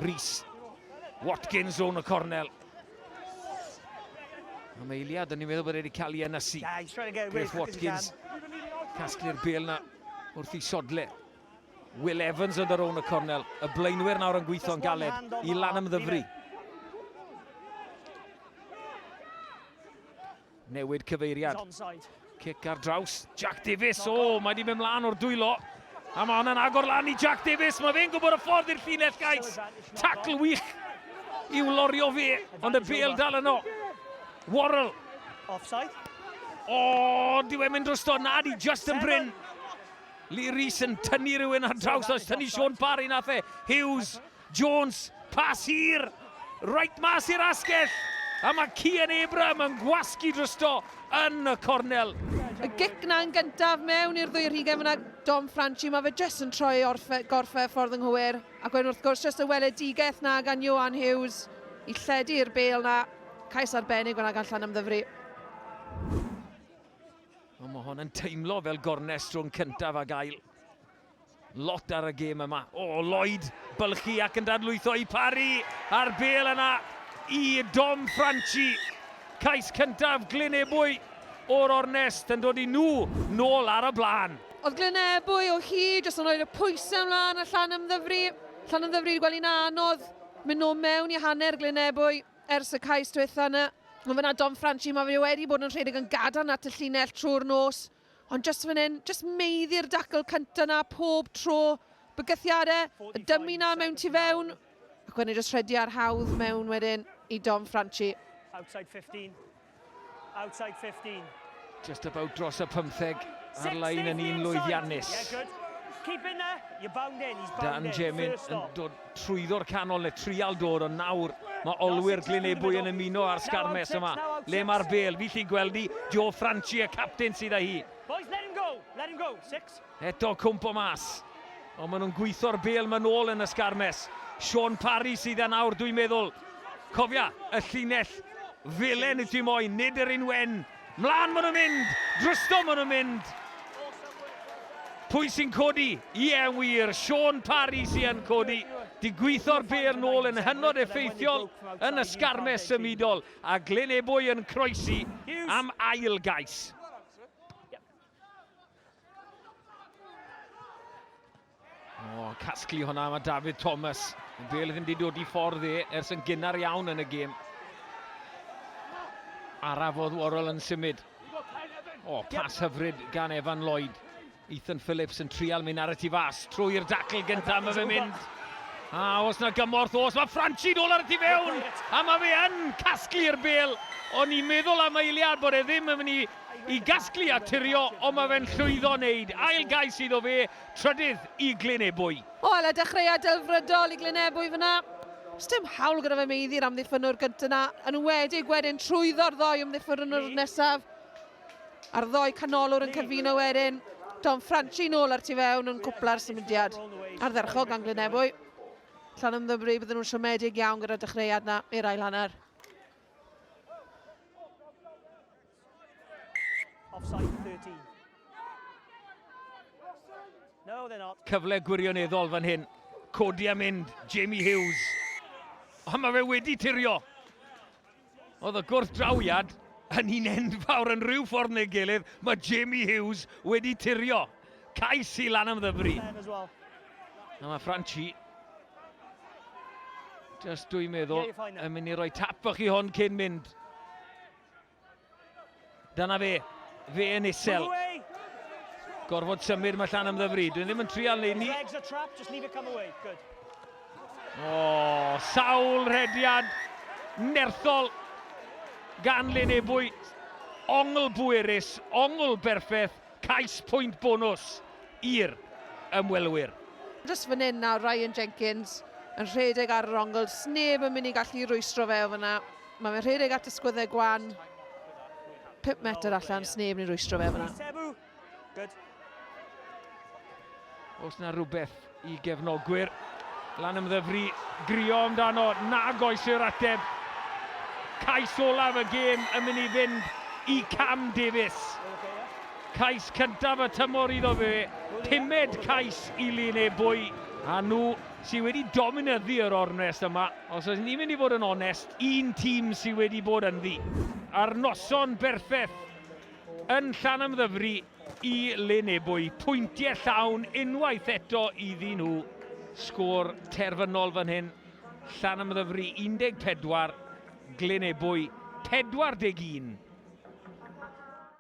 Rhys. Watkins o'n y cornel. Am eiliad, o'n i'n meddwl bod wedi cael ei ynysu. Griff Watkins. Casglu'r bel na wrth i sodle. Will Evans yn yr o'n y cornel. Y blaenwyr nawr yn gweithio'n galed i lan ymddyfru. Newid cyfeiriad. Cic ar draws. Jack Davies. O, oh, mae wedi mynd mlaen o'r dwylo. A mae hwnna'n agor lan i Jack Davies. Mae fe'n gwybod y ffordd i'r llinell, guys. Tacl wych i'w lorio fe, ond y bel dal yno. Worrell. Offside. O, oh, di wedi mynd drosto. Na, di just yn bryn. Lee Rees yn tynnu rhywun ar draws, os tynnu Sean Parry nath e. Hughes. Jones, pas hir, reit mas i'r asgell, a mae Cian Abraham yn gwasgu drosto yn y cornel. Y gic na yn gyntaf mewn i'r ddwy rhugen fyna, Dom Franchi, mae fe jyst yn troi orfe, gorfe y ffordd ynghywir, ac wedyn wrth gwrs jyst y weledigaeth na gan Ioan Hughes i lledu'r bel na, cais arbennig fyna gan Llanymddyfri. Ond mae hon yn teimlo fel gornest rhwng cyntaf ac ail. Lot ar y gêm yma. O, oh, Lloyd, bylchu ac yn dadlwytho i Parry. A'r bel yna i Dom Franchi. Cais cyntaf Glynebwy o'r ornest yn dod i nhw nôl ar y blaen. Oedd Glynebwy o hyd jyst yn rhoi'r pwysau ymlaen a llan ymddyfru. Llan ymddyfru wedi gweld anodd mynd o mewn i hanner Glynebwy ers y cais diwetha yna. Ond fyna Dom Franchi, mae fe wedi bod yn rhedeg yn gadarn at y llinell trwy'r nos. Ond jyst fan hyn, jyst meiddi'r dacl cynta 'na pob tro. Bygythiade, y dymu 'na mewn tu fewn, ac wedyn jyst rhedi ar hawdd mewn wedyn i Dom Franchi. Outside 15. Outside 15. Just about dros y pymtheg ar lain yn un lwyddiannus. Dan Jemin yn dod trwyddo'r canol neu trial dod ond nawr mae olwyr Glyn Ebwy yn ymuno â'r sgarmes yma le mae'r bel fi chi'n gweld hi Joe Franchi y captain sydd â hi Boys, let him go, let him go, six. eto cwmpo mas ond maen nhw'n gweithio'r bel maen ôl yn y sgarmes Sean Parry sydd yna nawr dwi'n meddwl cofia y llinell felen y dim oen nid yr un wen Mlaen ma nhw'n mynd! Drosto ma nhw'n mynd! Pwy sy'n codi? Ie, yn wir, Shaun Parry sy yn codi. Digwyddo'r bêl nôl yn hynod effeithiol yn y sgarmes symudol, a Glyn Ebwy yn croesi am ail gais. O, casglu hwnna, mae David Thomas. Yn bel ddim wedi dod i ffordd e, ers yn gynnar iawn yn y gêm. Araf oedd Worrell yn symud. O, pas hyfryd gan Evan Lloyd. Ethan Phillips yn trial mynd ar y tu fas. Trwy'r dacl gyntaf, mae fe'n mynd. A os na gymorth, os mae Franci nôl ar y tu fewn, a mae fe yn casglu'r bel. O'n i'n meddwl am eiliad bod e ddim yn mynd i, i gasglu a turio, ond mae fe'n llwyddo wneud. Ail gais iddo fe, trydydd i Glyn Ebwy. O, ala dechreuad delfrydol i Glyn Ebwy fan'na. Sdim hawl gyda fe meiddi'r amddiffynnwr gyntaf yna, yn enwedig wedyn trwyddo'r ddoi ymddiffynnwr nesaf. A'r ddoi canolwr yn cyfuno wedyn. Dom Franchi nôl ar tu fewn yn cwpla'r symudiad ardderchog gan Glyn Ebwy. Llanymddyfri, bydden nhw'n siomedig iawn gyda'r dechreuad yna i'r ail hanner. Offside 13. No, they're not. Cyfle gwirioneddol fan hyn. Codi a mynd, Jamie Hughes. O, mae fe wedi tirio. Oedd y gwrth drawiad yn un enfawr yn rhyw ffordd neu gilydd. Mae Jamie Hughes wedi tirio. Cais i lan am ddyfri. A mae Franchi Just dwi'n meddwl, yn mynd i roi tap fach i hon cyn mynd. Dyna fe, fe yn isel. Gorfod symud, mae Llan ymddyfru. Dwi'n ddim yn trial neud ni. O, oh, sawl rhediad nerthol gan Lyn Ebwy. Ongl bwerus, ongl berffeth, cais pwynt bonus i'r ymwelwyr. Just fan hyn nawr, Ryan Jenkins yn rhedeg ar yr ongl, sneb yn mynd i gallu rwystro fe o fyna. Mae fe'n rhedeg at y sgwyddau gwan. 5 metr allan, sneb ni'n rwystro fe fyna. Os na rhywbeth i gefnogwyr, lan ymddyfru, grio amdano, nag oes yr ateb. Cais olaf y gêm yn mynd i fynd i Cam Davies. Cais cyntaf y tymor iddo fe, pumed cais i Lyn Ebwy, a nhw sydd wedi dominyddu yr ornest yma. Os ydyn ni'n mynd i fod yn onest, un tîm sydd wedi bod ynddi ar noson berffeth yn Llanymddyfri i Lyn Ebwy. Pwyntiau llawn unwaith eto iddyn nhw. Sgôr terfynol fan hyn, Llanymddyfri 14, Glyn Ebwy 41.